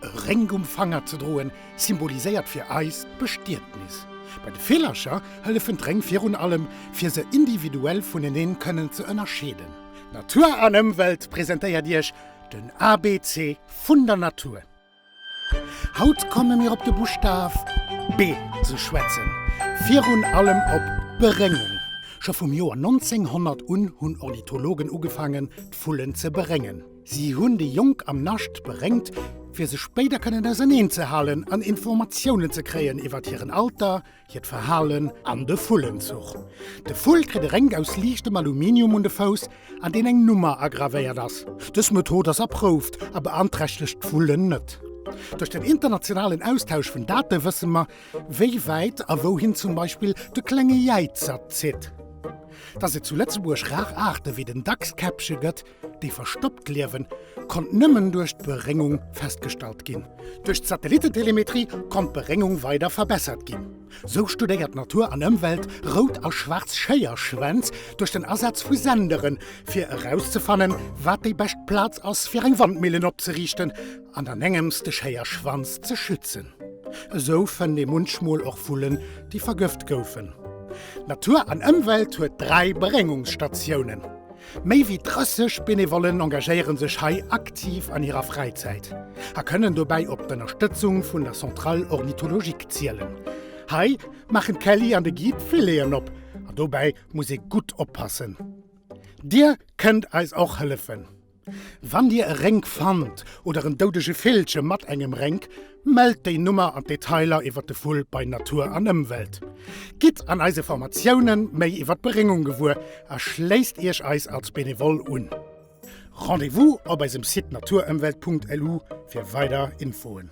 E Réng um Fanger ze droen, symboliséiert fir eis d'Bestietnis. Bei de Villercher hëllefen d'Réng virun allem, fir se individuell vuneneen kënnen ze ënnerscheeden. Natur an Ëmwelt presentéiert Iech den ABC vun der Natur. Haut komme mir op de Buschtaf B ze schwätzen, virun allem op d'Beréngung. Scho vum Joer 1900 un hunn Ornithologen ugefaangen, d'Vullen ze beréngen. Si hunn déi Jonk am Nascht bréngt, fir se spéider kënnen auserneen ze halen an Informatiounen ze kréien iwwert hiren Alter, hiert Verhalen an de Vullenzuch. De Vull kritt e Rénk aus liichtem Aluminium un de Fouss, an deen eng Nummer agravéiert ass. Dës Method ass erprouft a beanträchtegt d'Vullen net. Duerch den internationalen Austausch vun Date wësse mer, wéi wäit a wouhin zum Beispill de Klenge Jäizer zitt. Datt et zu Lëtzebuerg rar Aarte wéi den Dachskäppche gëtt, Déi verstoppt Liewen konnt nëmmen duerch d'Beréngung festgestallt ginn. Duerch d'Satellitentelemetrie konnt d'Beréngung weider verbessert ginn. Sou studéiert d'Natur an Ëmwelt rout a schwaarz Schéierschwänz duerch den Asaz vu Senderen, fir erauszefannen, wat déi bescht Plaz ass, fir eng Wandmillen opzeriichten an dann engems de Schéierschwanz ze schützen. Esou fënnt ee munchmol och Vullen, déi vergëft goufen. D'Natur an Ëmwelt huet dräi Beréngungsstatiounen. Méi wéi 30 Benevollen engagéieren sech hei aktiv an hirer Fräizäit a kënnen dobäi op d'Ënnerstëtzung vun der Centrale Ornithologique zielen. Hei maachen d'Kelly an de Guy d'Fileten op an dobäi muss ee gutt oppassen. Dir kënnt eis och hëllefen. Wann Dir e Rénk fannt oder en doudege Villche mat engem Rénk, Mellt déi Nummer an d'Detailer iwwer de Vull bei Natur an Ëmwelt. Gitt an eise Formatiounen méi iwwer d'Beréngung gewuer a schléisst Iech eis als Benevol un. Rendez-vous op eisem Site naturëmwelt.lu fir weider Infoen.